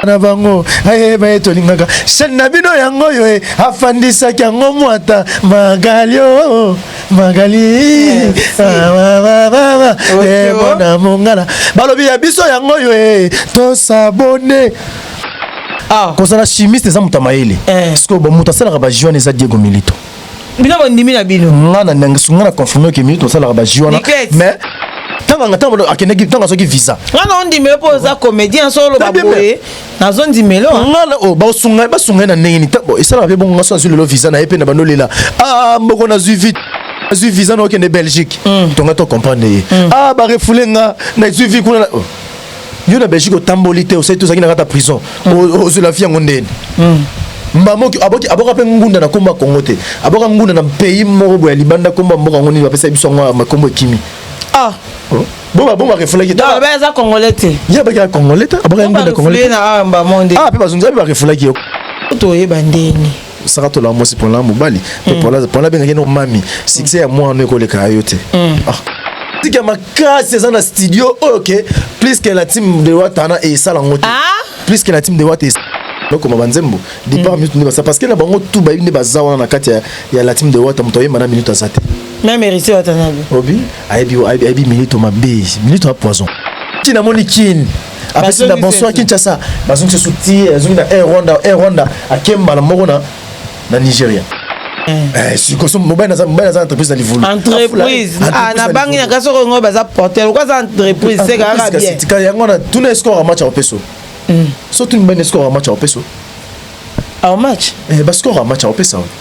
na bango ayeba ye tolingaka chaine na bino yango oyo e afandisaki yango mwata magali o magali ebona ah, mongala balobi ya biso yango oyo e tosabone ah. kozala chimiste eza moto ya mayele eh. sikoyo bamoto asalaka bajuane eza diego milito bino bondimi na bino nga na nangisu nga na confirme ke minute osalaka ba jus wana mais tanga nga tanga akendaki tanga soki visa nga na ondimelo po oza comédien so oloba boye nazo ndimelo ah. nga na o oh, ba sunga ba sunga na ndenge ni tabo esalaka pe bongo nga so azwi lelo visa na ye pe na bando lela ah mboko na zui vite azwi visa na okende belgique hmm. tonga to comprendre ye hmm. ah ba refoule nga na zui vi kuna oh. yo na belgique otamboli te osali te ozalaki na kata prison hmm. ozwela fi yango ndeni hmm. mbamoki aboki aboka mpe ngunda na kombo ya kongo te aboka ngunda na pays moko boya libanda kombo ya mboka yango nini bapesaki biso yango makombo ekimi ah oh. boma boma refulaki te ba eza congolais te ya ba ya congolais te aboka ngunda congolais na ah, ba monde ah pe bazunza ba refulaki yo to yeba ndeni Sakato la mwasi pona mobali pe mm. pona pona bengaki no mami succès ya mwana ekoleka yo te. Mm. Ah. tika makasi eza na studio oyo oh, ke plus ke na team de watana esala yango te ah? plus ke na team de wata bakoma banzembo départ mm. minute nde basa parce que na bango tout bayebi nde baza wana na kati ya la team de wata moto ayemba na minute aza te même héritier watanabe obi ayebi ayebi minute mabe minute ya poison ti namoni kini apesi na bonsoir kinshasa bazongisa su ti azongi na air rwanda air rwanda ake mbala moko na na nigeria Eh, sikoso mobali naza mobali naza entreprise na livulu entreprise ah, na bangi na kasi okongo baza porter okoa aza entreprise se kaka bien yango na tuna escore ya match ya opeso hmm. so tuni bani escore ya match ya opeso au match eh, bascore ya match ya opesa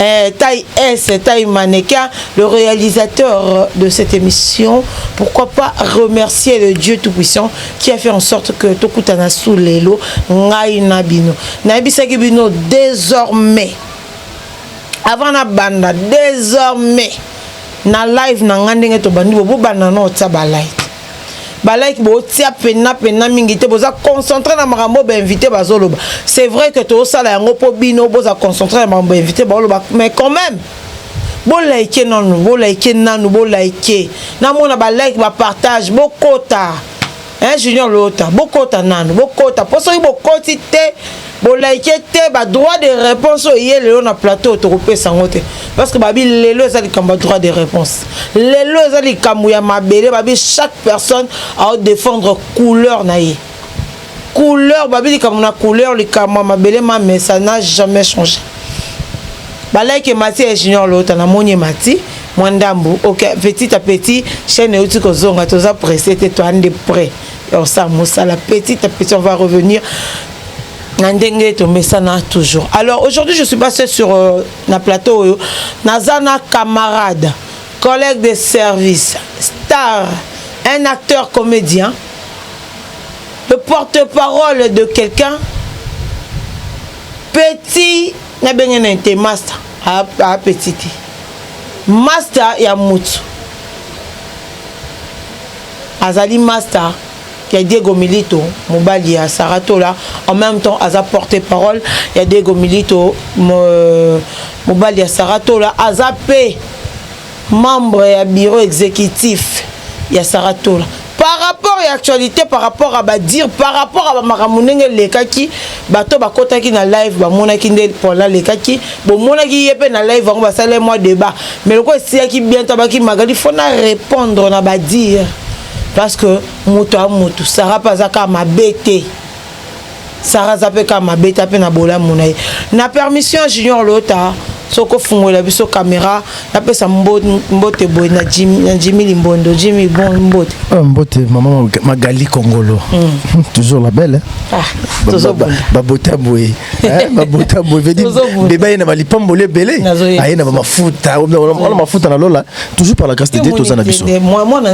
Eh, taille S, taille mannequin, le réalisateur de cette émission, pourquoi pas remercier le Dieu Tout-Puissant qui a fait en sorte que Tokutana sous l'élo, ngai na bino. Na ebisaki bino désormais, avant na banda, désormais, na live na ngai ndenge tobandi bobanda na otya ba like ba like botia pena pena mingi te boza concentre na makambo bainvité bazoloba c'est vrai que tosala yango mpo bino boza concentre na makambo bainvité baoloba mais quand même bolaike nanu bolaike nanu bolaike namona balike bapartage bokota hein, junior lota bokota nanu bokota mpo soki bokoti te Bo like te ba droit de réponse oyo ye lelo na plateau tokopesa yango te parce que babi lelo eza likambo ya droit de réponse lelo eza likambo ya mabele babi chaque personne ao défendre couleur na ye couleur babi likambo na couleur likambo ya mabele ma mais ça n'a jamais changé balaki emati ya junior lota namoni emati mwa ndambu ok petit à petit chaîne euti kozonga toza presse te toande près ya kosala mosala petit à petit on va revenir na ndenge tomesana toujours alors aujourd'hui je suis pas seul sur euh, na plateau oyo naza na camarade collègue de service star un acteur comédien le porte-parole de quelqu'un petit nabenge na te master apetit te master ya mutu azali master ya Diego Milito mobali ya Sarah Tola en même temps aza porte parole ya Diego Milito euh, mobali ya Sarah Tola aza pe membre ya bureau exécutif ya Sarah Tola par rapport ya actualité par rapport à badire par rapport à bamakambo ndenge elekaki bato bakotaki na live bamonaki nde pona alekaki bomonaki ye mpe na live yango basali mwa débat mais lokola esilaki bientôt abaki magali fona répondre na badire parce que moto ya moto sara mpe aza kaka mabe te sara aza mpe kaka mabe te mpe na bolamu na ye na permission ya junior lota soki ofungolela biso kamera napesa mbote boye na jimi limbondo jimi bon mbote ah, mbote mama magali kongolo hmm. toujours la belle ah, babota boye eh, babota boye vedi beba ye na balipamboli ebele aye na bamafuta wana mafuta na lola toujours par la grâce de Dieu toza na biso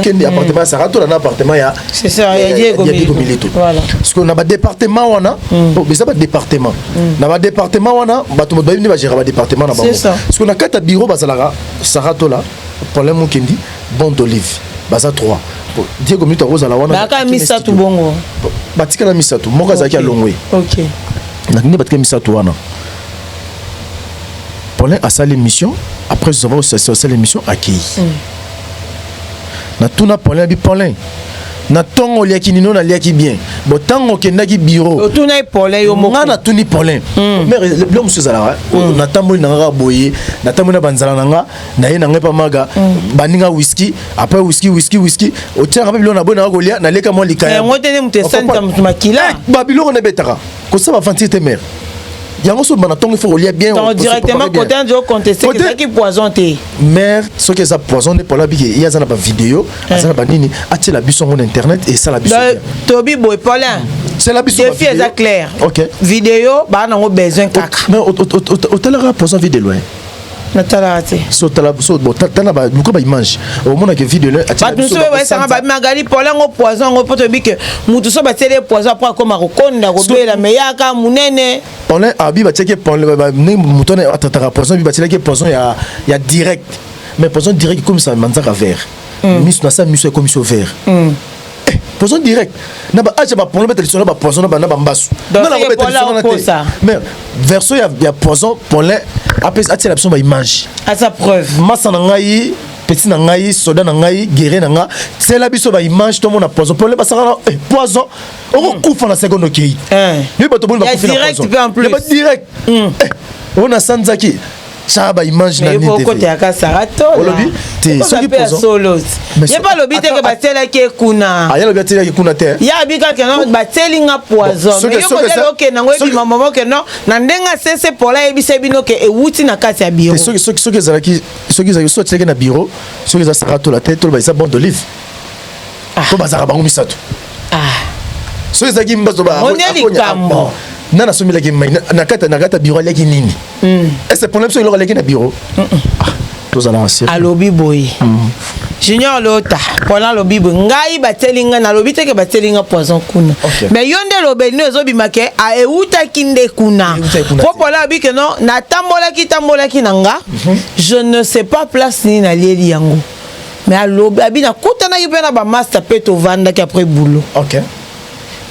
kende appartement ya Sarah tola na appartement ya c'est ça ya Diego Milito parce que na ba département wana mm. oh, eza ba département mm. na ba département wana bato bato bayebi nde bagéra ba département na bango parce que na kati ya bureau bazalaka Sarah tola problème mokendi bon d'olive baza trois Diego Milito akozala wana baka misato bongo batikala misato moko azalaki alongwe okay na nini batikala misato wana Paulin asali émission après zova osasi asali émission akeyi mm. natuna Paulin abi Paulin na ntongo oliaki nino naliaki bien bo ntango okendaki biro otunaki polin yo moko ngai natuni polin hmm. mere bilo mosusu ezalaka hmm. oh, natamboli na nga kaka boye natamboli na banzala na nga naye na ngai mpa maga hmm. baninga wiski apres wiski wiski wiski otiaka mpe bilo na boye nanga kolia naleka mwa likaya yango te nde moto esanisa moto makila eh, babiloko na ebetaka kosa bafantir te mare yango soki bana ntongo ifo kolia bien donc directement kote andi oconteste ezalaki poison te mare soki eza poison nde polo abiki ye aza na bavideo eh. aza na banini atiela biso yango na internet esala biso tobi boye polin sela biso defi eza clair ok video baa nango besoin kaka mais otalaka poison vide loin natalaka te so tala so bon tala ba luka ba image omona ke video le atia bato so ba sanga ba magali pole ngo poison ngo poto bike mutu so ba tele poison après akoma ko konda ko bela meyaka munene on est abi ba teke pole ba ne mutu ne atataka poison bi ba tele ke poison ya ya direct mais poison direct comme ça manzaka vert misu na sa misu ya komiso vert Eh, poison direct na ba acha ba poison beta lisolo ba poison na ba na ba mbasu na na beta lisolo na te mais verso ya ya poison polin apesa atia la biso ba image à sa preuve masa na ngai petit na ngai soda na ngai guerre na nga tsela biso ba image to mona poison pole basaka eh, poison oko hmm. kufa na seconde okei eh. yo bato boni bakufi na poison direct pe en plus direct hmm. eh, ona sanzaki sara ba image na nini te okota ya kasara to olobi te soki pozo solo ye pa lobi te ke batela ke kuna ah ye lobi atela ke kuna te ya bi ka ke non bateli nga poison mais yo ko tela ke nango ebi mama mo ke non na ndenga sese pola ye bisa bino ke ewuti na kati ya bureau soki soki soki ezalaki soki ezalaki soki atela ke na bureau soki eza sara to la tête to ba eza bande d'olive ah. to bazaka bango misato ah soki ezalaki mbazo ba onya likambo nana asombelaki mai na kati na kati ya bureau aliaki nini mm. ese pona biso eloko aleki na biro mm -mm. ah, tozala na seri alobi boye mm. junior lota pona alobi boye ngai batieli ngai nalobi te ke batieli ngai poison kuna okay. mais yo nde lobeli no ezobima ke eutaki nde kuna po pona alobi ke no natambolaki tambolaki na nga mm -hmm. je ne sais pas place nini nalieli yango mais alobi abi nakutanaki mpe na bamasta mpe tovandaki après boulot okay.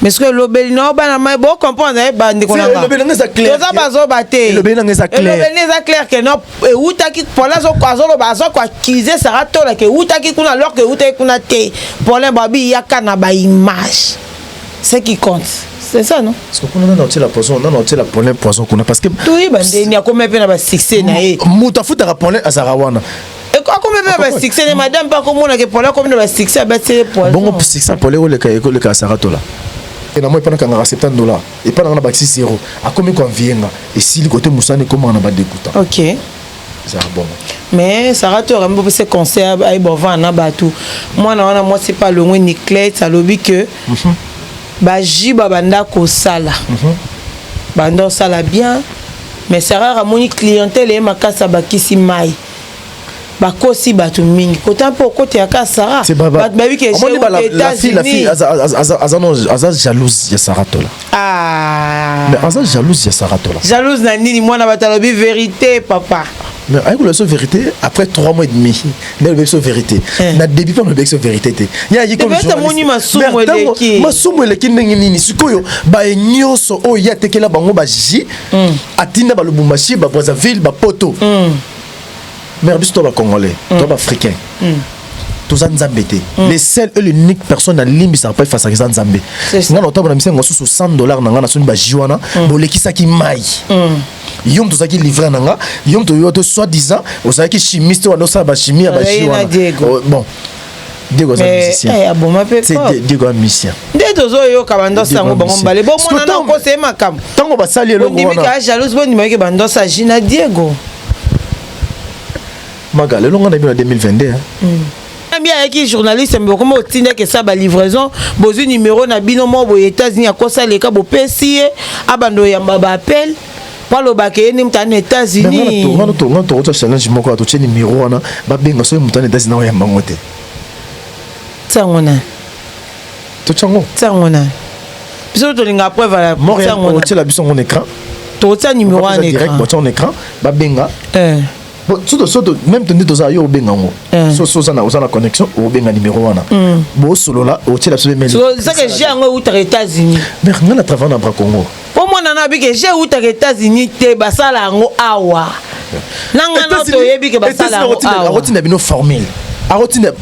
mais sikoyo elobeli na yo bana mai bo comprendre eh, bandeko na nga toza bazoba te elobeli na nga eza clair elobeli na eza clair que non ewutaki pole azoloba aza koaccuse sara tola ke ewutaki kuna alors ke ewutaki kuna te pole babi yaka na baimage ce qui compte c'est ça non parce que kuna nana otiela poison nana otiela pole poison kuna parce que toyeba ndeni akoma mpe na basuccès na ye moto afutaka pole azalaka wana akomi mpe na basuccès ne madame mpe akomona ke pole akomi na basuccès abati ye poisonbongo succès pole ekoleka ekoleka saratola na moi epana kangaka 70 dollar epa nanga na bakisi zero akomi koanvie nga esili kote mosani ekomaka na badekuta ok ezalaka bongo mais sara to akambi bopesa conseil ayeba ovanda na bato mwana wana mwasi mpe alongwe niclete alobi ke mhm. Ba jus ba banda kosala banda osala bien mais Sarah amoni clientèle ye makasi abakisi mai bakosi bato mingi kota mpo okotela kaka sara bato bayebi ke aza jalouse ya sara tola ah. aza jalouse ya sara tola jalouse na nini mwana bato alobi verité papa mais ayekola biso vérité après 3 mois et demi nde alobi biso vérité eh. na début mpe alobi biso vérité te yeamoni masumu eleki ndenge nini sikoyo baye nyonso oyo ye atekela bango baji hmm. atinda balubumbashi babrazzaville bapoto hmm. mare biso to bacongolais hmm. to baafricain toza nzambe te mm. le seul et l'unique personne nalimbisaka mpe efasaka eza nzambe ngai na otambola misengo mosusu 100 dollar na ngai nasoni baji wana mm. bolekisaki mai mm. yo moto ozalaki livre na nga yo moto yo te soit disant ozalaki chimiste wana osala bachimie ya baji wana oh, bon diego aza musicien eh, aboma mpe diego aza musicien nde tozoyoka bandosi yango bango mbale bomona na kosa ye makambo ntango basali eloko wana ondimi kaa jalouse bondimaki bandosi aji na diego maga lelo nga na bino na 2022 hein? mm. Nami ayaki journaliste mais bokoma otinda ke sa ba livraison bozui numéro na bino mo boye États-Unis akosa leka bopesi ye abando yamba ba appel baloba ke ye nde moto ana États-Unis ngana to ngana to kota challenge moko ya totie numéro wana babenga soki moto ana États-Unis na oyamba ngo te ntango na totya ngo ntango na biso tolinga preuve ya ntango na otyela biso ngo na écran totya numéro wana écran babenga eh. Bon, soto soto même tonde toza yo obenga ngo eh. so so zana ozana connexion obenga numéro wana mm. bo solola o tshela biso mail so ça que j'ai ngo uta États-Unis mais ngana travail na bra Congo po mona na bike j'ai uta États-Unis te basala ngo awa nanga na to yebi ke basala ngo awa akotinda bino formule akotinda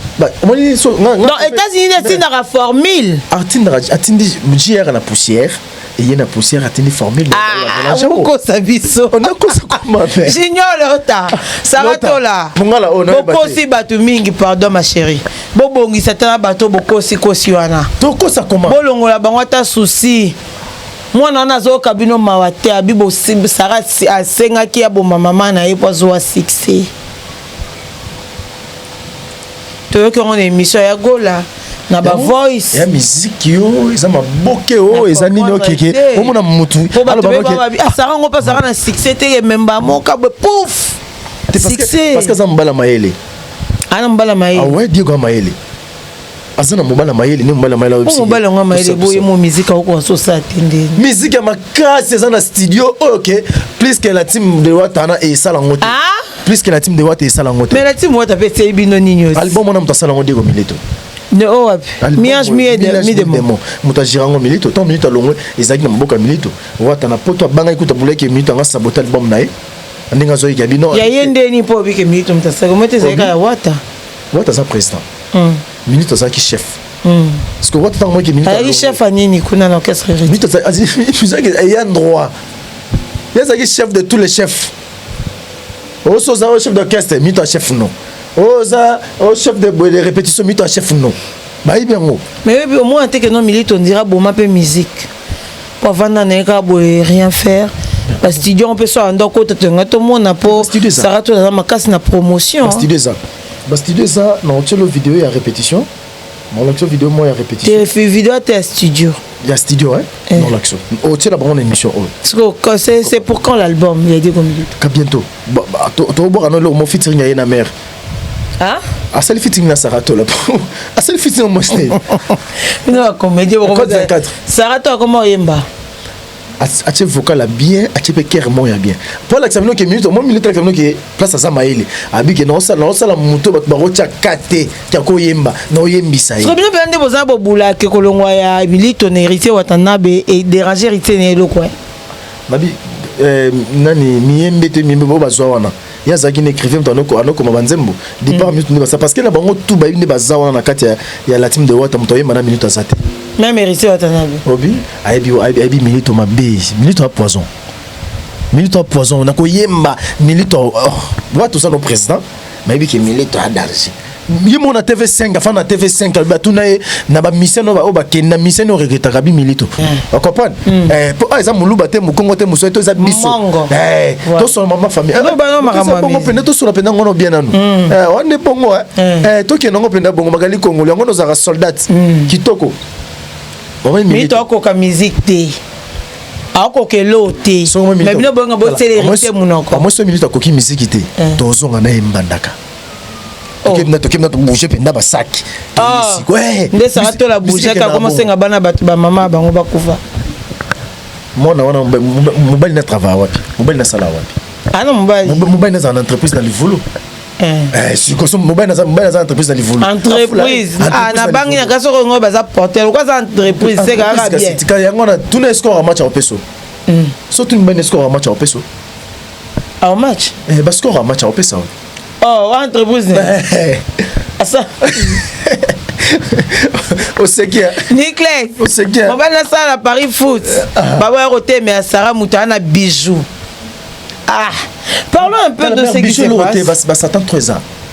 omoni so non États-Unis atindaka formule atindaka atindi JR na poussière eye na poussière atindi formule okosa ah, biso nakosa koma pe junior lota saratola mongala oyo bokosi bato mingi pardon ma chérie bobongisa ata na bato bokosi kosi wana tokosa koma bolongola bango ata souci mwana wana azoyoka bino mawa te abi sara asengaki aboma mama na ye mpo azowa succès toyoki yango na emission ya gola na ba voice ya miziki yo eza maboke o eza nini okeke omona mutu asaka ngo mpe azalaka na succès te ye memba moka boye pouf succès parce que aza mobala mayele ana ah, mobala mayele awe ah diego ya mayele aza na mobala mayele nde mobala mayele oyo mobala yango mayele boye mo miziki akokoka so osala te nde miziki ya makasi eza na studio oyo ke plus que la team de watana esala yango te ah! Plus que la team de Wata esala yango te. Mais la team Wata pe tseyi bino nini aussi? Album wana moto asala yango Diego Mileto. Ne o wapi? Miange miye de mi de mo. Moto ajira yango Mileto. Tant Mileto alongwe ezalaki na mboka Mileto. Wata na poto abangaki kuta bulaki Mileto anga sabote album na ye. Ndenge azoyi ya bino. Ya ye ndeni po obike Mileto moto asala. Moto ezalaki ya Wata. Wata aza président. Hmm. Mileto azalaki chef. Hmm. Parce que Wata tango moki Mileto. Azalaki chef ya nini kuna na orchestre? Mileto azalaki ayant droit. Yazaki chef de tous les chefs. oso oza o chef d'orchestre mito ya chef no oza o chef de boye de répétition mito ya chef no bayebi yango mais oyo omona te ke no milito ondira boma mpe musique po avanda na ye kaka boye rien faire bastudio yango mpe so anda okota toyanga tomona mpo sara tonaza makasi na promotion bastudio eza na otyelo video ya répétition molakisa video moko ya repetition video ata ya studio ya studio eh? eh. molakisa otiela oh, bango na émission oyo oh. oh, c'est pour quand l'album ya diego milito ka bientôt tobwaka no eloko mo featuring ya ye na mare asali fiting na saratola asali fiting na mwasi na ye saratola akoma oyemba atie vocal ya bien atie mpe kere moko ya bien mpo alakisa bino ke minute mwa minute alakisa bino ke place aza mayele abi ke naosala naosala moto bato bakotya ka te kya koyemba naoyembisa ye bino mpenza nde boza bobula ke kolongwa ya milito na héritier watanabe ederange héritier na eloko eh? mabi eh, nani miyembe te miyembe bo bazwa wana ye azalaki na écrivain moto anoko anokoma banzembo départ minute nde basa parce que na bango tout bayebi nde baza wana na kati ya, ya la team de wata moto ayemba na minute aza te même héritier watanabe obi ayebi ayebi, ayebi minute mabe minute ya poison minute ya poison na koyemba minute oh, wata oza no président mayebi ke minute ya danger ye moko na tv5 afandi na tv5 alobi batuna ye na bamisien oyo bakende na misien oyo regretaka bimilito hmm. ocomprendre hmm. eh, po ah, eza moluba te mokongo te mosoi to eza biso eh, tosona mama famillebongo eh, mpenza tosona mpenza ngono bien nanu hmm. wana nde bongo tokende yango mpenza bongo magali kongolo yango nozalaka soldat kitoko mito akoka miziki te akoka eloo te mais bino boyonga boteleli te monoko amwesi minute akoki miziki te tozonga na ye mbandaka Oh. tokemna tokemna tobouge mpenza basaki ah. eh, nde saka tola bougeke akoma senga bana bato bamama bango bakufa mwana wana mobali na travail wapi mobali nasala wapi ana ah, mobali mobali nazala na entreprise na livulu eh. eh, sikoso mobali naza entreprise na livulu entreprise ah, nabangi na kasi okongo baza porter lokola aza entreprise se kaka bien yango wana tuna escore ya match ya opeso hmm. so tuni mobali na escore ya match ya opeso au match eh, bascore ya match akopesa oh, entreprise asa oseki nicles oseki mobali nasala na paris foot ah. baboya kotemela sara moto aa na bijou ah parlons un peu de ce qui se passe basatan 3 ans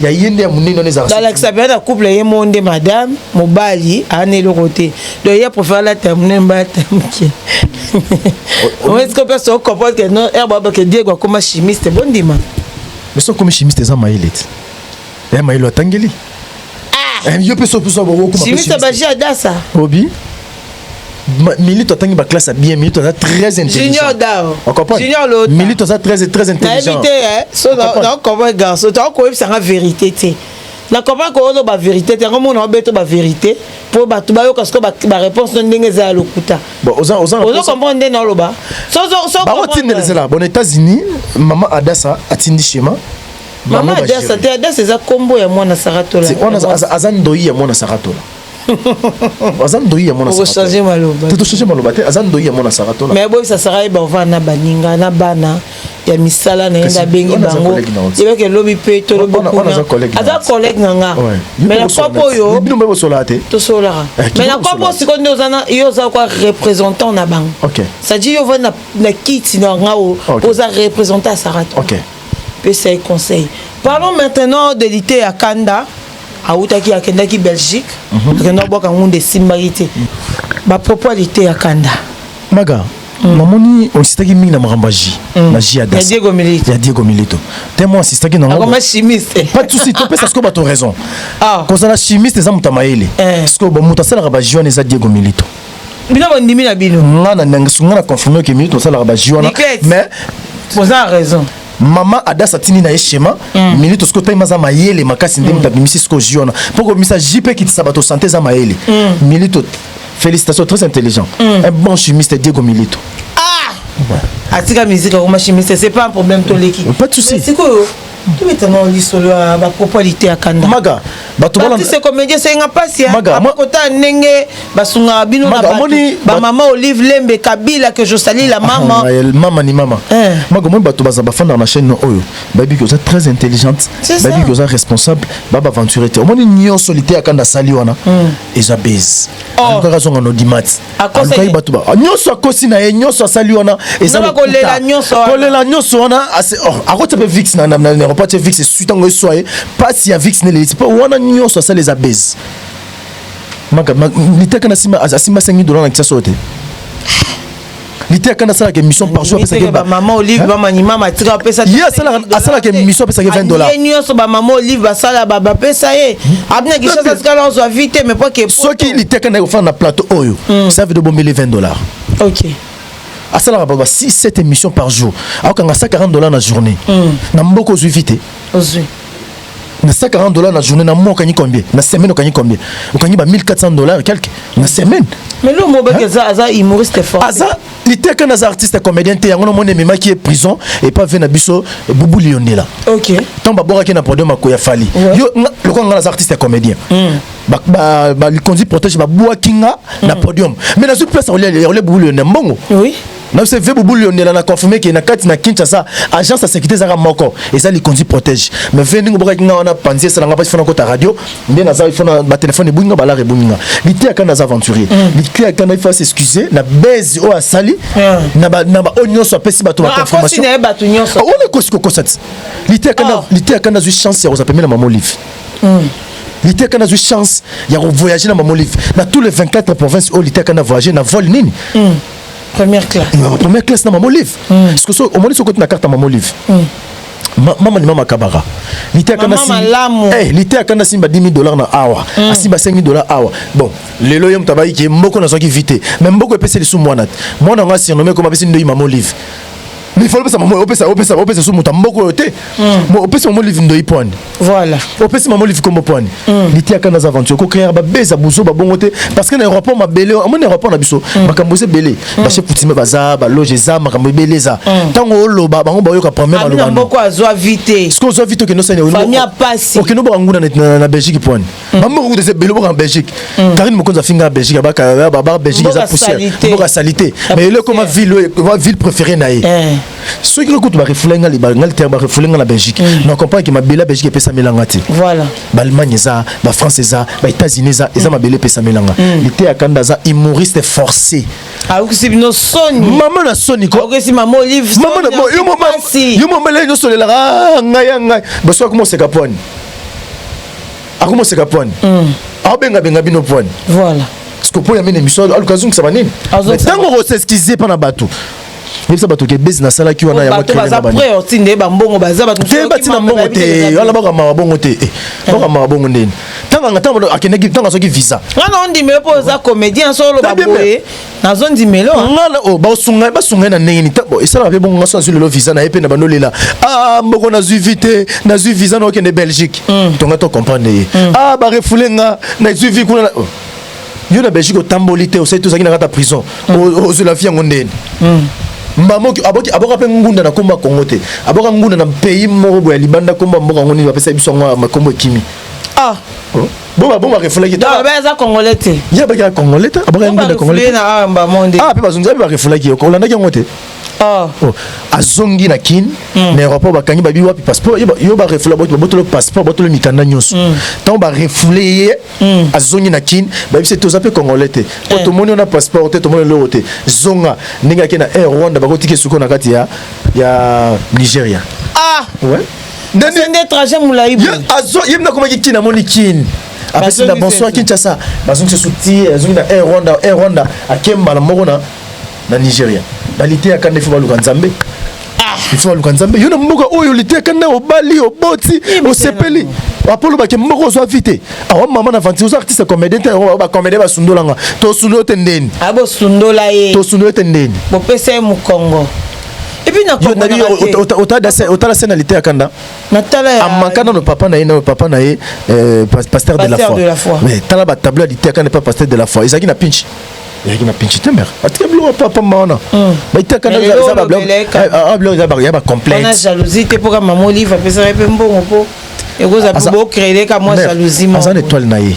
ya ye nde ya monene wana ezalaka alakisa mpe na couple ye moo nde madame mobali aana eloko te donc ye aprefer alata monene mba alata moke oesiko mpe so comprendre ke no ere babake diego akoma chimiste bondima mais so akomi chimiste eza mayele te ya eh, mayele atangeli ah! eh, yo mpe so mpe so chimiste baji adasa obi Milito atangi ba classe bien, Milito aza très intelligent. Junior Dao. On comprend? Junior Lota. Milito aza très très intelligent. Nayebi te eh, so na na comprend garçon, to ko yebisa nga vérité te. Na comprend ko ozo ba vérité te, yango mona obeto ba vérité po bato bayoka siko ba, ba réponse no ndenge eza ya lokuta. Bon, oza oza ozo comprendre nde na loba. So so so. Ba otindele zela, bon États-Unis, maman Adassa atindi schéma. Maman Adassa te, Adassa eza kombo ya mwana Saratola. Wana aza ndoi ya mwana Saratola. aza ndoyi ya mwana changer maloba te changer maloba te aza ndoyi ya mwana sara tola mais boyebisa sara yeba ovanda na baninga na bana ya misala na ye nde abengi bango yebaka elobi mpe tolobi kuna aza collègue na nga mais na kope oyo tosololaka eh, mais na kope oyo sikoyo nde oza na yo oza kwa représentant na bango c'est-à-dire yo ovandi na kiti na nga oyo oza représentant ya sara tola pesa ye conseil parlons maintenant de lite ya kanda okay. awutaki akendaki belgique mhm. akenda kobwaka ngunda esimbaki te bapropos ya liteya kanda maga mm. namoni osistaki mingi na makambo ya ji mm. na ji ya diego milito ya diego milito te mo asistaki na ngoma chimiste pas de souci topesa sikoyo bato raison ah. kozala chimiste eza moto ya mayele eh. sikoyo bamoto asalaka baji wana eza diego milito bino bondimi na bino nga na nanga sunga na confirme ke milito asalaka baji wana mais boza raison mama adasa tindi na ye shema mm. minute sikoyo time aza mayele makasi nde moto mm. abimisi sikoyo ji wana mpo kobimisa ji mpe ekitisa bato sante eza mayele mm. milito félicitation très intelligent mm. un bon chimiste diego milito ah! ouais. atika miziki akoma chimiste c'est pas un problème toleki pas de souci sikoyo tobetana lisolo ya bapropos ya lite ya kanda maga bato balanda se comédie esenga pasi akota ndenge basungaka bino na ba mama olive lembe kabila que je sali la ah, mama mama ni mama eh. mago moi bato baza bafanda na chaîne oyo bayebi que oza très intelligente bayebi que oza responsable baba aventure te omoni nyonso liteya kanda asali wana hmm. eza base oh. alukaka azonga na odimati alukai bato ba nyonso akosi na ye nyonso asali wana ezakolela nyonso wana oh, akotya mpe vix na aeroport atye vix esui ntango eswa ye mpasi ya vix nelelisi mpo wana nyonso asali eza base litaka na nsima asimba 5000 dola na kisasa oyo te lite akanda asalaka émission par jour apesaki ba maman olive ba mani mama tika apesa ye asalaka asalaka émission apesaki 20 dollars ye nyonso ba maman olive basala ba bapesa ye hmm. abina kishasa tikala ozwa vite mais pas que soki lite akanda ekofanda na plateau oyo hmm. ça veut de bombele 20 dollars ok asalaka ba 6 7 émissions par jour akokanga 140 dollars na journée hmm. na mboka ozwi vite ozwi na 140 dollars na journée na mois okangi combien na semaine okangi combien okangi ba 1400 dollars quelque na semaine mais lo mo baki aza aza humoriste fort aza liteka na za artiste comédien te yango na moni ememaki ye prison et pas vie na biso bubu liondela OK tant ba bora ki na podium ko ya fali yo lokwa ngana za artiste comédien hmm. ba ba, ba likonzi protège ba bua kinga na hmm. podium mais na zo place olia olia bubu liondela mbongo oui na biso ve bobulu yondela na confirme ke na kati na Kinshasa agence ya sécurité ezaka moko eza likonzi protège mais ve ndenge obokaki nga wana panzi esala nga basi fona kota radio nde naza ifona ba téléphone ebungi nga balare ebungi nga liteya kanda aza aventurier mm. liteya kanda ifo s'excuser na base oyo asali mm. na ba na ba oyo nyonso apesi bato ba confirmation ah, wana ekosi kokosa ti liteya kanda oh. liteya kanda azwi chance ya kozala pembeni na mama olive mm. liteka nazwi chance ya kovoyage na mama olive na tous les 24 province oyo liteka na voyage na vol nini mm. première classe na première classe na maman olive mm. siko so omoni soko na carte maman olive mm. Ma, mama ni mama kabaka lite akanda simba eh lite akanda simba 10000 dollars na awa mm. asimba 5000 dollars awa bon lelo yo mutabayi ki mboko na soki vite mais mboko epese lisu mwana mwana nga surnommé comme apesi ndoyi maman olive mais il faut opesa maman opesa opesa opesa so moto mboko oyo te mm. opesa maman olive ndoi pwani voilà opesi maman olive kombo pwani mm. litiaka na aventure ko créer ba beza buzo ba bongo te parce que na aéroport ma belé amoni aéroport na biso mm. makambo ese belé ba chef coutume baza ba loge eza makambo belé za tango oloba bango ba yoka premier maloba na mboko azwa vite ce que ozwa vite okendo sani famille passe okendo ba nguna na Belgique pwani maman moko kutu ebele boka na belgique mm. karine mokonzi afinga na belgique abaka belgique eza poussière mboka salite mais ele ekoma ville oyo ekoma ville préféré na ye eh. soki nga kutu barefule nga nga litere barefule nga na belgique mm. na comprendre ke mabele ya belgique epesamela nga te ballemagne eza bafrance eza baétats-unis eza eza mm. mabele epesamela nga lite ya kanda aza humoriste forcé ayokisi bino soni mama na soni ko ayokisi mama olive mama na yo mama yo mama lelo nyonso olelaka ah, ngai ya ngai basoki akoma oseka pwani akoma oseka pwani mm. aobengabenga bino pwani voilà siko mpo ya mini émission aluka azongisa banini ntango okoseskize mpa na bato yebisa bato ke bezi nasalaki wana yangobatina mbongo te wana bakamaka bongo te eh, bakamaka bongo ndeni ntango akendaki ntango azwaki visa wana ondimele mpo oza comédien soloba boye nazo ndimelo ah. nga na o oh, ba sunga ba sunga na ndenge ni tabo esala pe bongo ngaso azwi lelo visa na ye pe na bando lela ah mboko na zwi vite na zwi visa na okende Belgique mm. tonga to comprendre ye mm. ah ba refoule nga na zwi vi kuna oh. yo na Belgique otamboli te osali tozalaki na kata prison mm. ozwi la vie yango ndeni mbamoki aboki aboka pe ngunda na komba Congo te aboka ngunda na pays moko boya libanda komba mboka ngoni bapesa biso ngo makombo ekimi ah oh. bo babomaka efulaki aza congolais te ye abakaka congolais te abakaka ngunda congolais ah mpe bazongi ape bakefulaki yoko olandaki yango te oh. Oh. azongi na kin hmm. na aéroport bakangi babi wapi passeport yo barefula babotolo passeport botolo mikanda nyonso ntango hmm. barefule ye hmm. azongi na kin bayebisi te oza mpe congolais te po eh. tomoni ona passeport te tomoni eloko te zonga ndenge ake na air rwanda bakotika esuko na kati ya nigeria ah! nde trajet molayi boye azo ye mna komaki kin amoni kin apesi na bonsoir kinshasa bazongisa so ti azongi na air rwanda air rwanda ake mbala moko na na nigeria baliteyaka nde fo baluka nzambe ifo baluka nzambe yo na mboka oyo oliteyaka nde obali oboti osepeli apolo bake moko ozwa vi te awa mama na venti oza artiste comédien te yango bacomédien basundola nga tosundoli yo te ndeni ah, tosundola ye tosundoli yo te ndeni bopesa ye mokongo epuis naotala se na lite ya kanda amaka nano papa na ye nayo papa na ye euh, pasteur de la foi mais tala batablo ya lite ya kanda epa pasteur de la foi ezalaki na pinci ezalaki na pinci te mere atika biloko papa ma wana baitakandabiloko eza ya bacomplexe te mpoka mama olive apesaka mpe mbongo mpo ekozala bocrele ka mwa jalousie aza na étoile na ye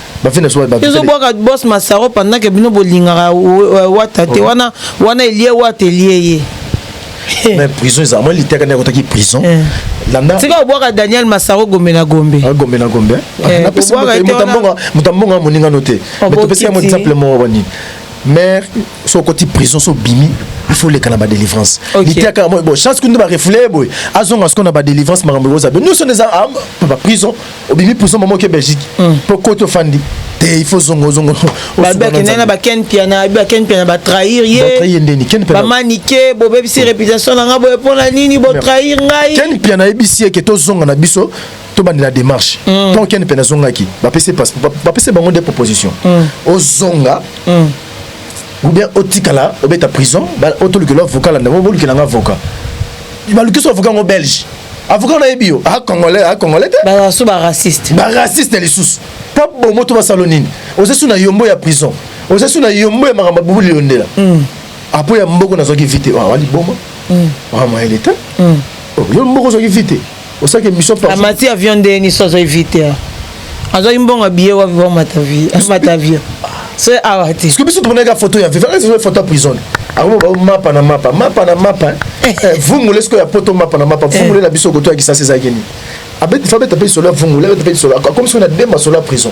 bafina so ezo bwaka boss masaro pendant que bino bolingaka wata te wana wana elie wata elie ye eh. mais prison eza moi liteka ndeko taki prison eh. landa tika obwaka Daniel Masaro gombe na gombe ah, gombe na gombe eh, na pesa mutambonga mutambonga moninga note oh, mais topesi ya exemple mo wani mère so koti prison so bimi il faut lekana badelivrance litiaka yango bo chance kundi barefoule boye azonga siko na badelivrance makambo ekozala be nyonso nde eza baprison obimi prison mama oke belgique mpo hmm. koti ofandi te il faut zongo zongo babi akendaki na baken piana abi baken piana batrahir ye ndeni ken piana bamanike bobebisi réputation na ngai boye mpo na nini botrahir ngai ken piana ayebisi ye ke tozonga na biso tobandela démarche hmm. ntango ken piana azongaki bapesi bango nde proposition hmm. ozonga ou bien otikala obeta prison otolukela avocat landa bolukela nga avocat balukisi avocat yango belge avocat nayebi yo a congolais a congolais te basu baraciste baraciste lisusu mpo bomo to basalo nini oza su na yombo ya prison oza su na yombo ya makambo abubuli yondela hmm. apo ah, ya mboko nazwaki vite awa ah, liboma hmm. makambo ya leta hmm. oh, yo mboko ozwaki vite osaki biso pa amati avion ndenge nini so azwaki vie te awa azwaki mbongo ya biye wapi bamata vie amata avion so awa te soki biso tomonaka foto ya vivaka ezali foto ya prison akomi bao mapa na mapa mapa na mapa eh. eh, vungule sikoyo ya poto mapa na mapa eh. vungule na biso koto ya kisasi ezalaki nini abeti fa beta mpe lisolo ya vungule abeta mpe lisolo akomi soki na demba solo ya prison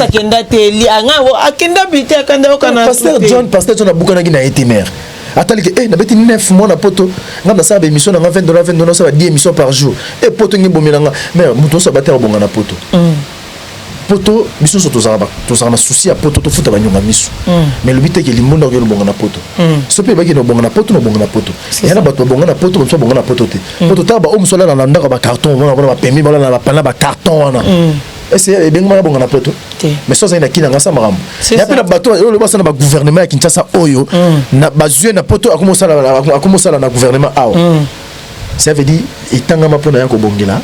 akenda te akenda bite akanda yokana pasteur john pasteur john abukanaki na ye te mare ataliki e eh, nabeti 9 mois na poto ngai nasala baémission na ngai 20 dola 20 dola nasala 10 émission par jour e poto nge ebomela ngai mais moto nyonso abataka bonga na poto mm. poto biso nyonso tozalaka na susi ya poto tofuta banyonga miso mm. mais elobi teke limbonda oyo lobonga na poto mm. so mpe ebaki na obonga na poto na obonga na poto eya na bato babonga na poto bamosu babonga na poto te mm. po totala baoyo mosu alala na ndako ya bacarton omona mpona bapemi balala na bacarton wana mm. ese ebengama na bonga na poto mais so azali na kina ngasa makambo ya mpe na bato oyo loba asala na bagouvernement ya kinshasa oyo mm. bazwi na poto akomi osala na gouvernement awa mm. ça veut dire etangama mpo na ya kobongela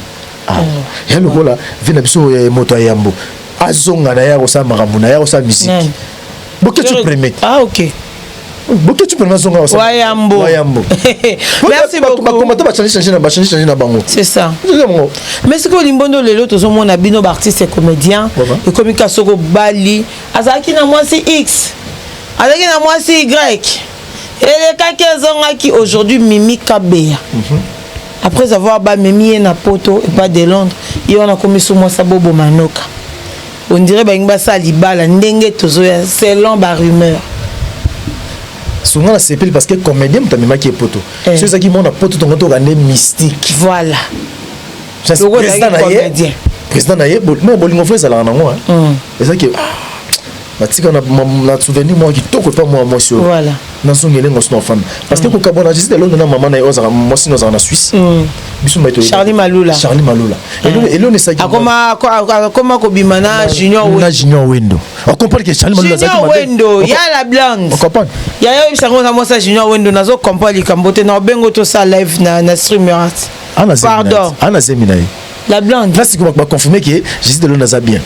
awa mm. ya lokola vi na biso ya moto ya yambo azonga na ye akosala makambo na ye akosala miziki boketu premier ah, okay. boketi mpona bazonga wayambo wayambo merci beaucoup bakomata bachange change na bachange change na bango c'est ça yango mais sikoyo limbondo lelo tozomona bino baartiste comédien ekomi ka soko bali azalaki na mwasi x azalaki na mwasi y elekaki ezongaki aujourd'hui mimi kabeya mm -hmm. après avoir bamemi ye na poto epa de londres ye wana akomi so mwasi aboboma noka On dirait balingi basala libala ndenge tozoya selon ba rumeur songa nasepeli parce que comédien moto amemaki ye poto eh. so ezalaki mwana poto tongo toka nde mystique voilà président na ye président na ye non bolingo fo ezalaka nango ezalaki batika na souvenir moko kitoko epa mwa mwasi oyo na zongi elenge mwasi na ofanda parce que mm. kokabwana na jesita elondo na mama na ye ozaka mwasi na ozaka na swisse mm. biso mbai charli malula charli malula mm. eloni esaki akoma kobima na junior na junior wendo okomprendre ke charli malula azaki wendo ya la blonde okomprendre ya yo yebisa ngo na mwasi ya junior wendo nazo comprendre likambo te na obengo tosala live na na streamer pardon ana zemi na ye la blonde na sikoyo bakonfirme ke jesita eloni aza bien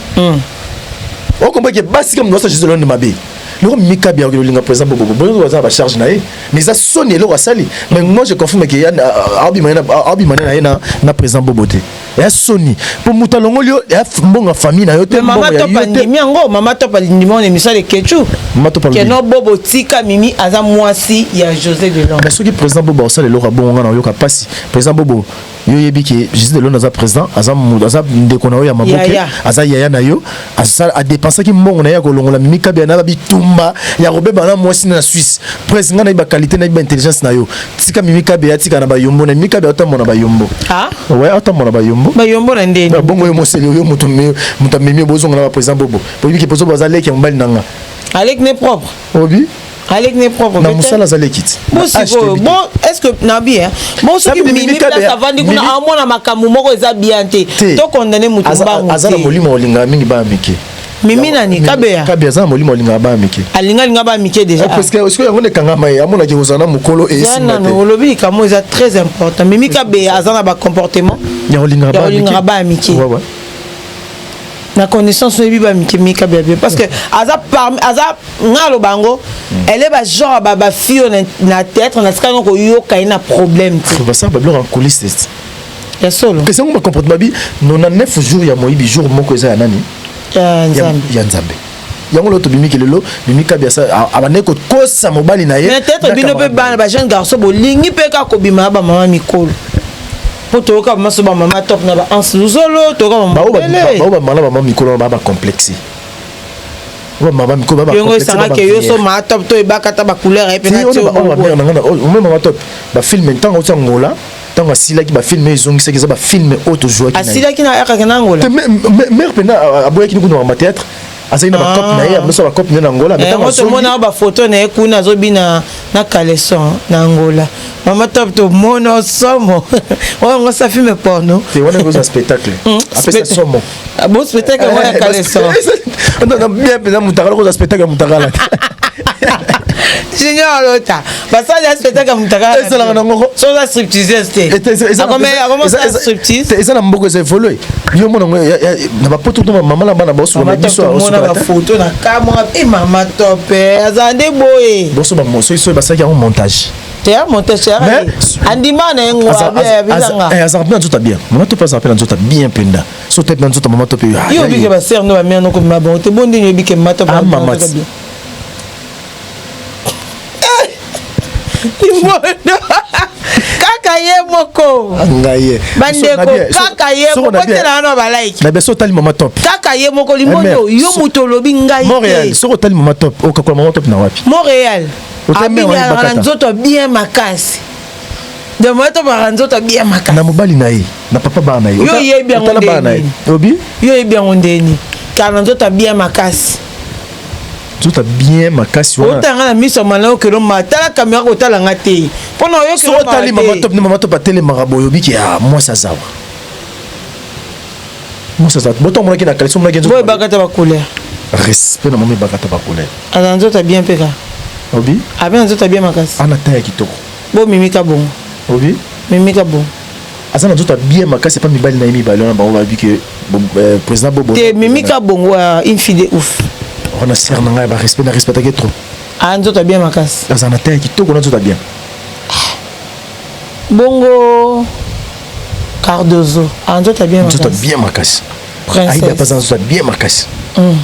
okomprendre ke basi kama mwasi ya jesita eloni mabe loko mika bia okilo linga president bobo bobo aza ba charge na ye mais eza soni eloko asali mais moi je confirme que yana abi mana abi mana na ye na na president bobo te ya soni po muta longoli yo ya mbonga famille na yo te mbonga ya yo te mama topa ndimi yango mama topa ndimi on emission de kechu mama topa ndimi keno bobo tika mimi aza mwasi ya José de Londres mais soki president bobo asala eloko bonga na yoka pasi president bobo yo yebi ke Jésus de Londres aza président aza aza ndeko na yo ya maboke aza yaya na yo asala a dépenser ki mbongo na ya kolongola mimi kabia na bitumba ya kobeba na mwasi na Suisse presse nga na ba qualité na ba intelligence na yo tika mimi kabia tika na ba yombo na mimi kabia otambo na ba yombo ah ouais otambo na ba yombo ba yombo na ndeni ba bongo yo moseli yo mutu mutu mimi bozonga na ba président bobo boyebi ke pozo baza leki ya mobali nanga Alec n'est propre obi aleki ne propre na musala azali ekiti bosikoyo bo est ce que na bien bo soki mimi place avandi kuna amona makambo moko eza bien te to condamne moto mbangu aza na molimo olingaka mingi bana mike mimi nani kabeya kabeya aza na molimo alingaka bana mike alingalinga bana mike déjà parce que sikoyo yango nekangama ye amonaki kozala na mokolo esimba te olobi likambo eza très important mimi kabeya aza na bacomportement ya olingaka bana mike na connaissance oyebi ba mikemika bia bien parce que aza parmi aza nga aloba yango mm. elle est ba genre ba ba fille na, na théâtre na tikana koyoka ye na problème te basala babiloko en coulisse ya solo pesa yango bacomporte babi 99 jour ya moyibi jour moko eza ya nani ya nzambe yango lelo tobimiki lelo mimi kabi abandaki kokosa mobali na ye peut-être bino mpe bana ba jeune garçon bolingi mpe kaka kobima ya bamama mikolo mpo toyoka bamaso bamama top na baanse luzolo toyoka bamabao bamala bamama mikolo na baa bacomplexe yango esangaka yo so maa top to ebaka ata bacouleur ye mpe na tio omema maa top bafilme ntango oti angola ntango asilaki bafilme ezongisaki eza bafilme oyo tozwaki asilaki na yakaki na angola mare mpena aboyaki ni kuna mateatre azali na bacope na ye ah. amesala bacope na ye na angola tomona eh, bafoto na ye kuna azobina na caleson na angola mama top tomona somo oyo yango sa filme porno te wana ekozala spectacle hmm, apesa somo Ah, bo spectacle yango ya kaleso bien mpenza motakala kozwa spectacle ya motakala junior lota basali ya spectacle ya motakala esalaka na ngoko so oza striptiseuse te akomosala striptise eza na mboko eza evolue yo mona ngo na bapoto to mama na bana baosoloma biso omona bafoto na kamwa e mama tope aza nde boye boso bamoso iso basalaki yango montage teya moto sera andima na ye ngwabianga eh, azalaka mpe na nzoto bien mama to mpe azalaka mpe na nzoto bien mpenza so tete na nzoto mama to mpe yo obike basere no bamere noko mema bango te bo ndenge obike mama to bien kaka ye moko ngaye bandeko kaka ye kokotela wana balaiki na biso otali mama top kaka ye moko limoni yo moto olobi ngai te montréal soki otali mama top okakola mama top na wapi montréal abinaka na nzoto ya bien makasi demoeto baka nzoto ya bien makasi na mobali na ye na papa baa na ye yo oyebi yango ndeni yo oyebi yango ndeni kala na nzoto ya bien makasi nzoto bien makasi wana otanga na miso ya malao kelo ma tala kamera kotala nga te mpo na oyoki otali mama top ne mama top atelemaka boye obiki ya ah, mwasi azawa Mosasa, boto amonaki na kalisi omonaki nzoto. Boye bakata ba couleur. Respect na momi bakata ba couleur. Ana nzoto bien peka. Obi? Abe na nzoto bien makasi. Ana taya kitoko. Bo mimika bongo. Obi? Mimika bongo. Aza na nzoto bien makasi pa mibali na yemi balona bango ba bike euh, président Bobo. Te mimika bongo euh, une fille de ouf. Ona sœur na ngai ba respect na respectaki trop. Ana nzoto bien makasi. Aza na taya kitoko na nzoto bien. Bongo Cardozo, ah, nzoto bien makasi. Nzoto bien makasi. Princesse. Aïda pas nzoto bien makasi. Mm.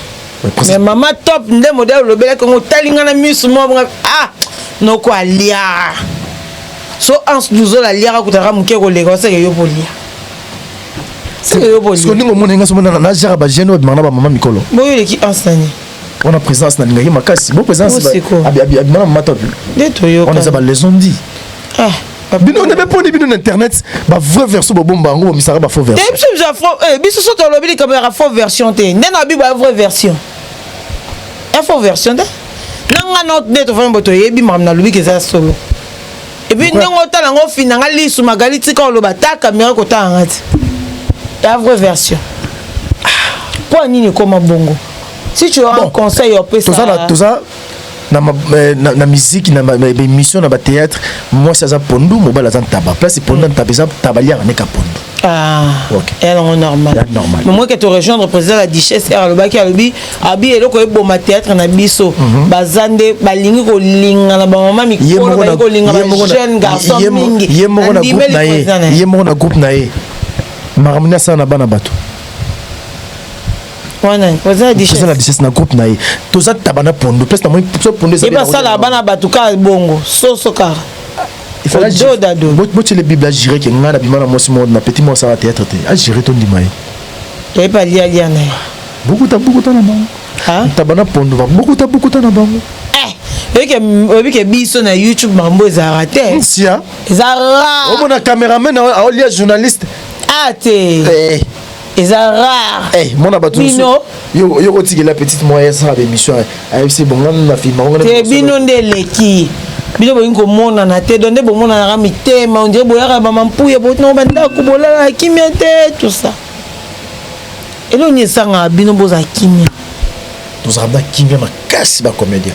Mais maman top nde modèle olobelaki yango otali ngai na miso mwa ah noko alia so anse duzola aliaka kutaka moke koleka oseke yo bolia seke yo bolia soki ndenge omona ngai somona na jaka ba jeune oyo bimaka na ba mama mikolo boyo eleki anse nani wana présence na lingaki makasi bo présence abimana mama top wana eza balaison ndi ah, bino nde beponi bino na internet bavrai version bobomba yango bomisaka bafaux version eh, biso eh, so tolobi likambo yaka faux version te nde na bi bavrai version info version te na nga no nde tofandi bo toyebi makambo nalobi ke eza solo epuis ndenge otala yango ofina nga lisu magali tika oloba ta kamera kotala nga ti ya vraie version mpo ah, ya nini ekoma bongo si tu as bon, un conseil opesa toza na, ma, eh, na, na miziki na baémission na bathéâtre mwasi aza pondu mobali aza ntaba place pondu mm. ntaba eza ntaba liaka neka pondu Ah, okay. ya yango normal momoke to rejoindre président la duchesse r alobaki alobi abi eloko eboma théâtre na biso mhm. baza nde balingi kolinga na bamama mikolo balingi kolinga bajeune garçon mingi ye moko na groupe na ye makambo nde asala na bana bato wana oza na duchesse na groupe na ye toza tabana pondo place na moi so pondo ezali basala bana bato kaka bongo soso kaka botyele bible agire ke ngai nabima na mwasi moko na petit moko asala théâtre te agire tondima ye toyebi alialia na ye bukuta bukuta na bango ntaba na pondo babukuta bukuta na bango oyebi ke biso na youtube mambo ezalaka te sia eza ra omona cameraman aolia journaliste a te eh. eza rare hey, eh, mona bato bino yo yo kotikela petite moyen sans ba émission ayebisi eh, bonga na film bonga te bino nde leki bino bolingi komonana te donde bomonanaka mitema ondire boyaka bamampuya botinao bandako bolalaka kimia te tout ça elongi esangaka bino bozala kimia tozalaka na kimia makasi bacomédien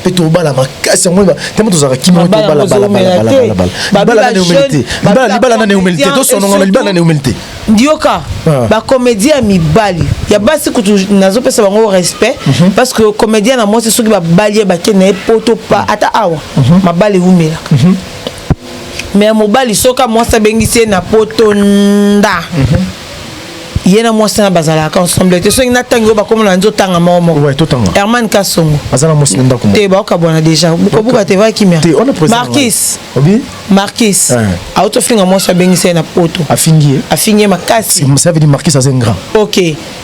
mpe tobala makasi yango ntango tozalaka kimia tobala balabalabalabala nani eumeli te tosonongana libala nani eumeli te ndioka ah. bacomédien ya mibali ya basi kutu nazopesa bango respect mhm. parce que comédien na mwasi soki babali ye bake na ye poto pa ata awa mhm. mabala eumelaka mhm. mais mobali soki mwasi abengisi ye na poto nda ye na mwasi na bazalaka ensemble te soki natangi oyo bakoma na nzoto tanga moko moko herman kasongo azala mwasi na ndako te baokabwana deja bukabuka te vaki kimia markis markis eh. auti ofinga mwasi abengisa ye na poto afingi ye afingi ye makasi ça veut dire markis aza ingrand ok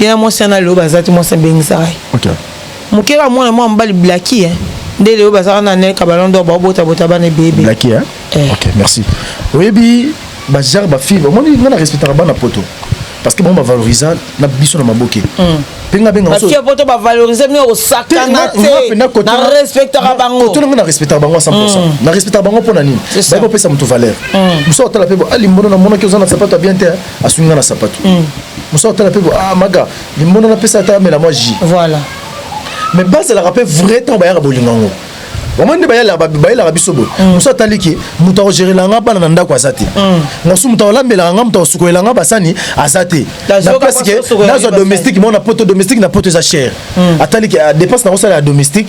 ye na mwasi yana lelo baza te mwasi abengisaka ye okay. moke kaka mwana mwa mobali blaki eh. nde lelo bazalaka na nelka balondor baobotabota bana ebebe blaki eh? eh. okay, merci oyebi bajar bafille omoni ngai na respectaka bana poto parce que bango bavalorisa na biso na maboke mm. penga benga parce que poto ba valoriser mais osakana te na respectaka bango to na respectaka bango 100% mm. na respectaka bango pona nini ba ko pesa mutu valeur muso mm. otala pe bo ali ah, mbono na mona ke ozana sapato bien te hein. aswi nga na sapatu mm. mosala otala mpe ah, maga limbondo napesa ata amela mwa ji voilà mais bazalaka mpe vrai ntango bayaka bolingo yango bango nde bayelaka biso boye mm. mosu atali ke moto akogerela nga bana na ndako aza te mm. mosu moto akolambelaka nga moto akosukolela nga basani aza te na place ke nazwa domestique mona poto domestique na poto eza chere mm. atali ke ah, dépense nakosala ya domestique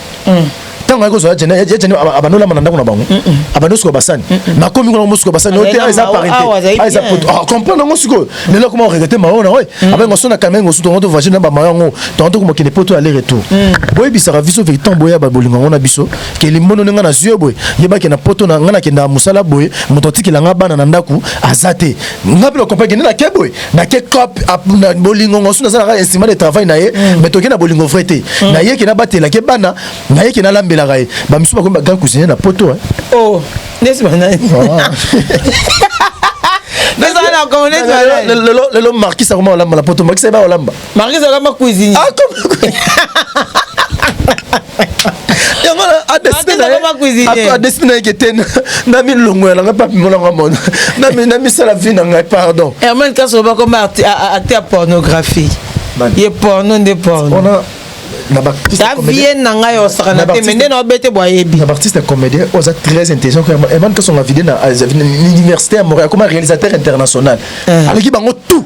ntango ayaki kozwa yajani yajani abanolama na ndako na bango abandi osuka basani nakomi kuna mosuka basani oyo te eza pariteeza poto comprendre yango sikoyo lelo akoma oregrete mayo na oyo abenga so na kamenge osu tongo tovage na bamayo yango tongo tokomakende poto aller retour boyebisaka biso veri ntango boyeba bolingo yango na biso ke limbono nde ngai nazwi yo boye yebake na poto na ngai nakendaka mosala boye moto atikela ngai bana na ndako aza te ngai mpe na comprendre kende na ke boye na ke cop bolingo ngo suna zala estima de travail na ye mm. mais toke na bolingo vrai te mm. na ye ke na batela ke bana na ye ke na lambela ga ye ba misuba ko ba grand cousine na poto hein oh nesi bana ah. lelo markisa koma olamba na poto markisa eba olamba Marquise akoma cuisinier. Akoma yango adesine na yeke te na milongo ya nanga papi monanga mona na misala vi na ngai pardon hermane kaso bakoma acte ya pornographie ye porno nde porno ta vie na ngai osakana te me nde na obete bwa yebi na baartiste ya comédien oza très intelligent hermane kasonga vide na université ya montréal akoma réalisateur international eh. aleki bango tout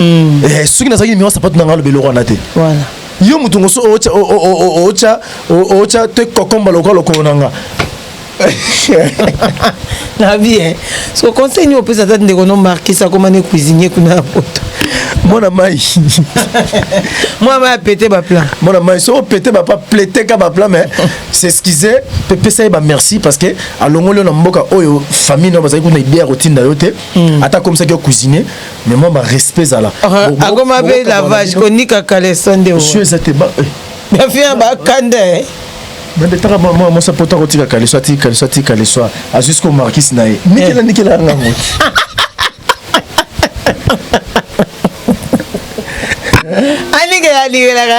mm. eh, soki nazalaki nimero sapatu na ngai aloba eloko wana te voilà. yo moto ngoso otya te kokomba lokola lokolo na nga na bien so conseil nini opesa ata ndeko no markis akoma ne cuisinier kuna na poto mwana mai mwana mai apete baplan mwana mai so opete bapa pleteka baplan mais s'excuse mpe pesa ye bamerci parce que alongoli yo na mboka oyo famille nao bazali kuna idea ya kotinda yo te hmm. ata akomisaki yo cuisinier mais moi ma respect ezala akoma mpe lavage konika kaleso nde oyo eza te ba bafia eh. bakanda eh. bandetaka mwa mwasi apota kotika kaleso atiki kaleso atiki kaleso azwi siko markis na ye nikela eh. nikela yanga moto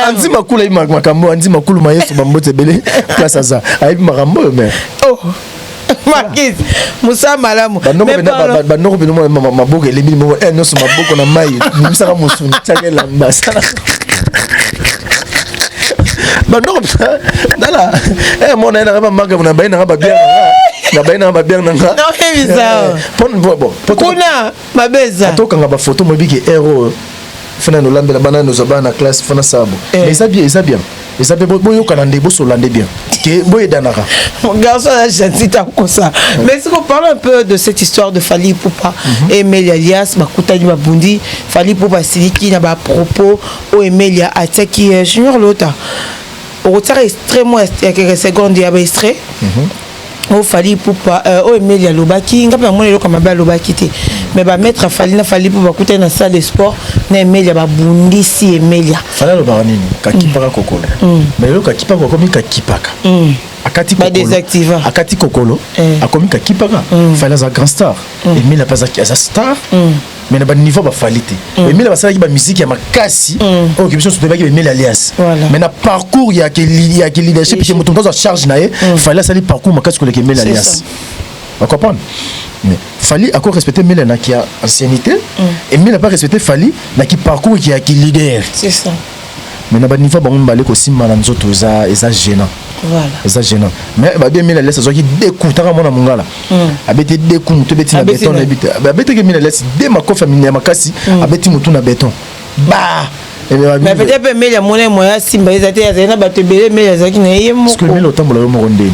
anzi makula makambo anzi makulu ma yesu bambote ebele place aza ayebi makambo oyo me oh. makisi mosala malamu banoko bino mona maboko elembi moko eh, nyonso maboko na mai bimisaka mosuni tiaka elamba banoko tala eh, mona ye nanga bamaka na baye nanga babianga na baye nanga babianga nanga eh, kuna mabe eza ata okanga bafoto moyebi ke ere oyo fana nolambela bana nozwa bana na classe fana sabo eh. mais eza bien eza bien eza mpe boyokana nde bosola nde bien ke boyedanaka garçon ya gentil takosa mais siko parle un peu de cette histoire de fali pupa mhm. emeli alias bakutani babundi fali pupa asiliki na bapropos oyo emeli atiaki euh, junior lota okotiaka extrêmement ya keke seconde ya baextrait mhm. oyo fali ipupa euh, oyo emeli alobaki ngai mpe namoni eloko ya mabe alobaki te mais bamaître ya fali na fali ipupa bakutani na salle de sport na emelia babundisi emelia fali alobaka nini kakipaka kokolo mm. Mm. mais eloko akipaka akomi kakipaka mm. akati kokolo akati kokolo eh. akomi kakipaka fali aza grand star emelia mpe aza star mais na ba niveau ba fali te mm. emile basalaki ba musique ya makasi mm. oyo biso tobebaki emile alliance voilà. mais na parcours ya ke ya ke leadership ke moto moto charge na ye mm. fali asali parcours makasi koleka emile alliance ba comprendre mais fali ako respecter emile na ki ancienneté mm. emile pas respecter fali na ki parcours ki ya ki leader c'est ça mais na ba niveau bango mibale kosimba na nzoto eza eza gênant voilà eza gênant mais ba 2000 laisse azwaki deux coups tanga mwana mungala mm. abeti deux coups mutu ebeti na beton na ebita abeti ke 1000 laisse deux makofi ya makasi mm. abeti mutu na beton ba mais peut-être mele amona moya simba eza te azali na bato ebele mele azalaki na ye moko parce que mele otambola yo moko ndeni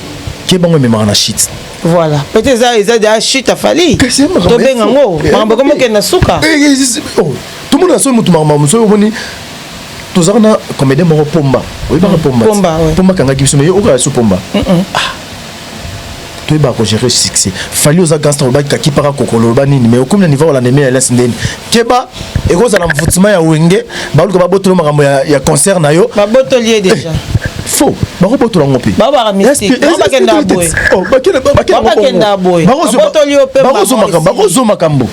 Qui bango ememaka na shit. Voilà. Peut-être eza eza déjà shit à Fally. To benga ngo. Mambo comme que na suka. Eh, eh, oh. Tout le monde a son mutu mambo mutu omoni tozaka na comédien moko pomba oyebaka mm. pomba pomba, ouais. pomba kangaki biso mais yo okala so pomba mm -mm. ah. toyebaka kogere succès fali oza gangster olobaki kakipaka kokolo oloba nini mais okomi na niveau olandemia elas ndeni keba ekozala mvutima ya wenge baluka babotolo makambo ya, ya concert na yo babotoli ye deja eh, faux bakobotola ngo mpe bakozwa makambo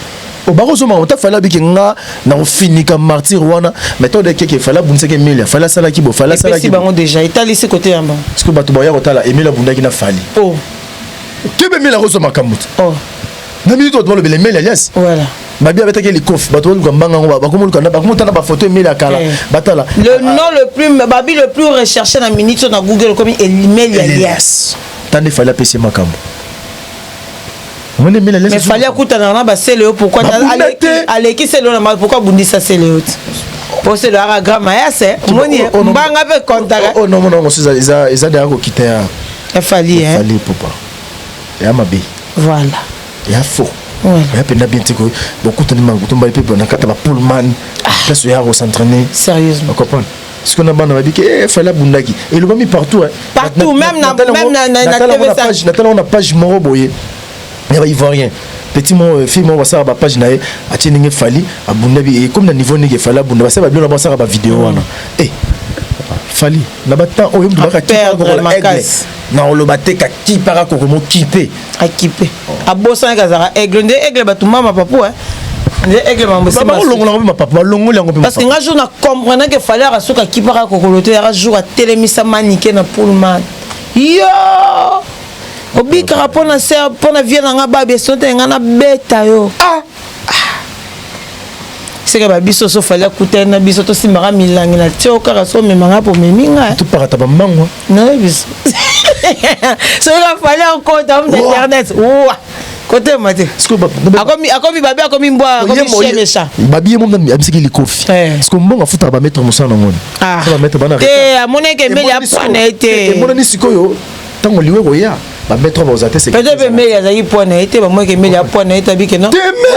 bakozwa makambo ta fali abiki nga na kofinika martyr wana mais to dekeke fali abundisaki emilia fali asalaki bo fali asalaki bango deja etalisi kote yango sikoyo bato baya kotala emilia abundaki na fali kebe emilia akozwa makambo te na minute oyo tobalobela emilia alias voilà Babi abetaki ye likofi bato baluka mbanga yango bakomoluka na bakomotala bafoto emeli ya kala Eh. batala le nom le plus babi le plus recherché na minute oyo na google okomi elimeli ya lias ta nde fali apesi ye makambo omoni emeli ya mais lias fali akutanaka na basele yo pourquoi te- Babunda aleki- te. aleki sele yo na ma pourquoi abundisa sele yo te po sele oyaka grand mayas eh. omoni ye, Oh, oh, non. mbanga mpe kontaka oyo nomona yango mosusu eza- eza deya kokita ya ya fali eh. fali pupa ya mabe voilà ya faux ya mpenza bien te koye bokutani makutumbali mpe na kati ya bapulman ah. place oya kosentraine sérieusement comprendre sikoyo na bana babiki e fali abundaki elobami partout partout même na page natalako na page moko boye ya baivoirien petit moko euh, fille moko basala bapage na ye atie ndenge fali abunda bi ekomi na niveau ndenge fali abunda basala babilo na bango basala bavideo mm. wana e eh, fali na batemp oyo mdubaka kipakokola aigle na oloba te kakipaka kokomo kipe akipe abosanaki azalaka aigle nde aigle bato mama papu eh. nde aigle mambo esimbalongola yango mpe mapapa balongoli yango mpe parce que nga jour na comprendre ke fale aka soki akipaka kokolo te yaka jour atelemisa manike na pullman yo obikaka mpo na se mpo na vie na nga babia sote nga nabeta yo ah. seke ba biso so fali akutani na biso tosimbaka milangi na tio kaka so omema nga mpo omemi nga topakata bambangwa naye biso soki afali akota mna internet wa kotema te akomi babi akomi mbwa akomiemesa babi ye momi abisaki likofi siko mbongo afutaka bametre mosala na ngoni te amoneke mbeli apwana ye te emonani sikoyo ntango liwe koya ba mettre trop bakozala te c'est peut-être pe meli azali point na ye te bamoi ke meli apoint na ye tabi ke non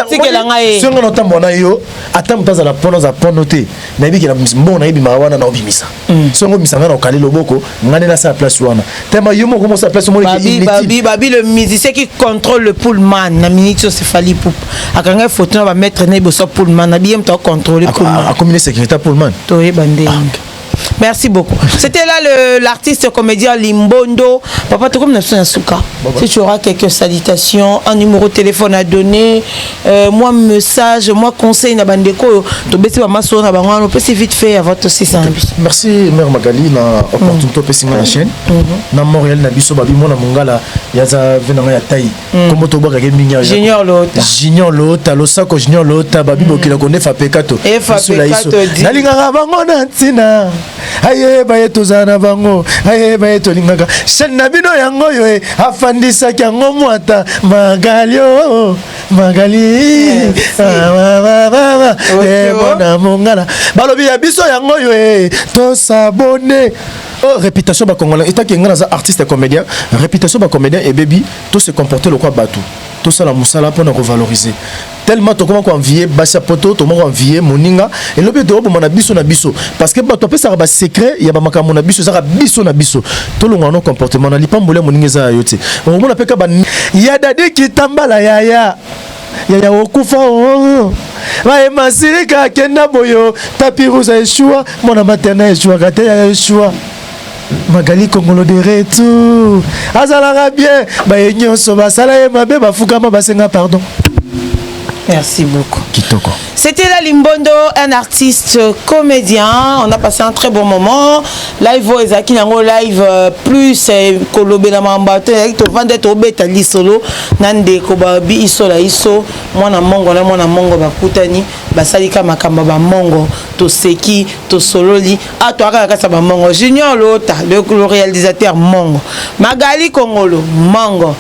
tikela ngai ye songa na tambo na yo ata moto azala point aza point te na yebi ke na mbongo na ye bimaka wana na obimisa mm. songa obimisa ngai na okali loboko ngai nde nasala place wana tellement yo moko mosala place omoni ke inutile babi le musicien qui contrôle le pullman na minute oyo sefali poupe akangai photo na ba mettre na ye boso pullman na biye moto akontrole pullman akomi ne sécurité pullman toyeba ndenge ah. Merci beaucoup. C'était là l'artiste comédien Limbondo. Papa, tu comme Si tu auras quelques salutations, un numéro de téléphone à donner, euh, moi message, moi conseil na bandeko, tu baisses ma masse na bango, on peut si vite fait à votre aussi Merci mère Magali na opportunité mm. pesi na chaîne. Mm-hmm. Na Montréal na biso babi mona mungala yaza venanga ya taille. Mm. kombo tobwakaka mingi junior lota junior lota losako junior lota babi bokila mm. kondefa pekato esula iso nalingaka bango na ntina ayeba ye tozala na bango ayeba ye tolingaka shani na bino yango oyo e afandisaki yango mwata magalio magali ah, emona mongala balobi ya biso yango oyo e tosabone Oh, réputation ba congolais état que ngana za artiste comédien réputation ba comédien et baby tout se comporter le quoi batou tout ça la musala pour nous revaloriser tellement tokoma ko envier basi poto tokoma ko envier moninga et lobi to bomana biso na biso parce que bato apesa ba secret ya ba makambo na biso ezaka biso na biso to longa no comportement na lipambole moninga za yote omona peka ba ya dadi kitambala yaya yaya okufa oo baye masirika akenda boyo tapi rouge ya eshua mwana materna eshuaka te yaya eshua magali kongolo de retour azalaka bien baye nyonso basala ye mabe bafukama basenga pardon merci beaucoup kitoko C'était là Limbondo, un artiste comédien. On a passé un très bon moment. Live oyo ezalaki nango live euh, plus euh, kolobela mamba to ezalaki tovanda tobeta lisolo na ndeko babi iso la iso mwana mongo na mwana mongo bakutani basalika makambo ba mongo toseki tosololi ato ah, akaka kasa ba mongo junior lota le, le réalisateur mongo magali kongolo mongo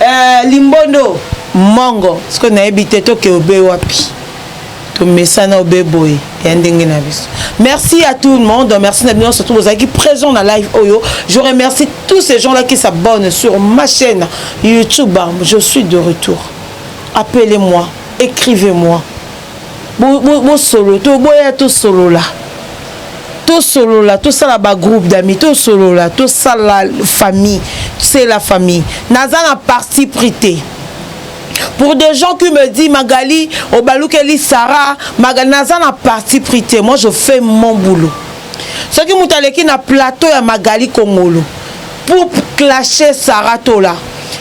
Eh, limbondo mongo sikoyo nayebi te toke obe wapi tomesana obe boye ya ndenge na biso merci à tout le monde merci na bino nyonso to bozalaki présent na live oyo je remercie tous ces gens là qui s'abonnent sur ma chaîne youtube je suis de retour appelez moi écrivez moi bosolo to boya tosolola tosolola tosala bagroupe d'amis tosolola tosala famille c'est la famille naza na parti pris te pour des gens qui me disent magali obalukeli sarah magali naza na parti pris te moi je fais mon boulot soki moto aleki na plateau ya magali kongolo pour clasher sara tola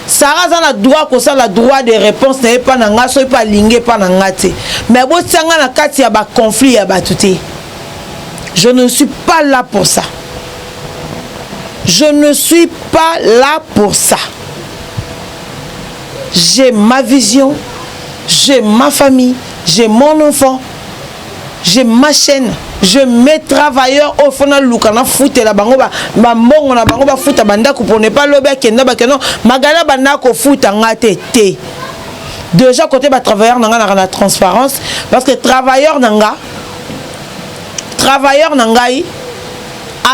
sara aza na droit kosala droit de réponse na ye mpa na ngai soki mpe alingi mpa na ngai te mais botia ngai na kati ya baconflit ya bato te je ne suis pas là pour ça je ne suis pas là pour ça j'ai ma vision j'ai ma famille j'ai mon enfant je ma chaîne je mets travailleur oyo fo naluka nafutela bango bambongo na bango bafuta bandako pour ne pas lobi akenda bakeno magala banda kofuta nga te te déjà côté batravailleur na nga naka na transparence parce que travailleur na nga travailleur na ngai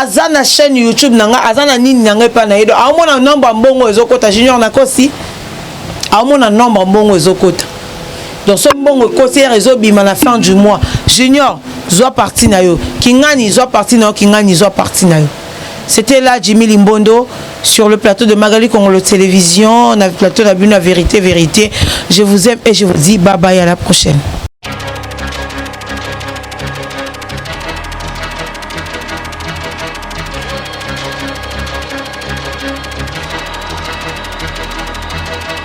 aza na chaîne youtube na nga aza na nini na ngai epai na ye do aomona nombre mbongo ezokota junior nakosi aomona nombre mbongo ezokota donc so mbongo ekosi ere ezobima na fin du mois junior zwa parti na yo kingani zwa parti na yo kingani zwa parti na yo c'était là jimmy limbondo sur le plateau de magali congolo télévision na plateau na bino ya vérité vérité je vous aime et je vous dis bye bye à la prochaine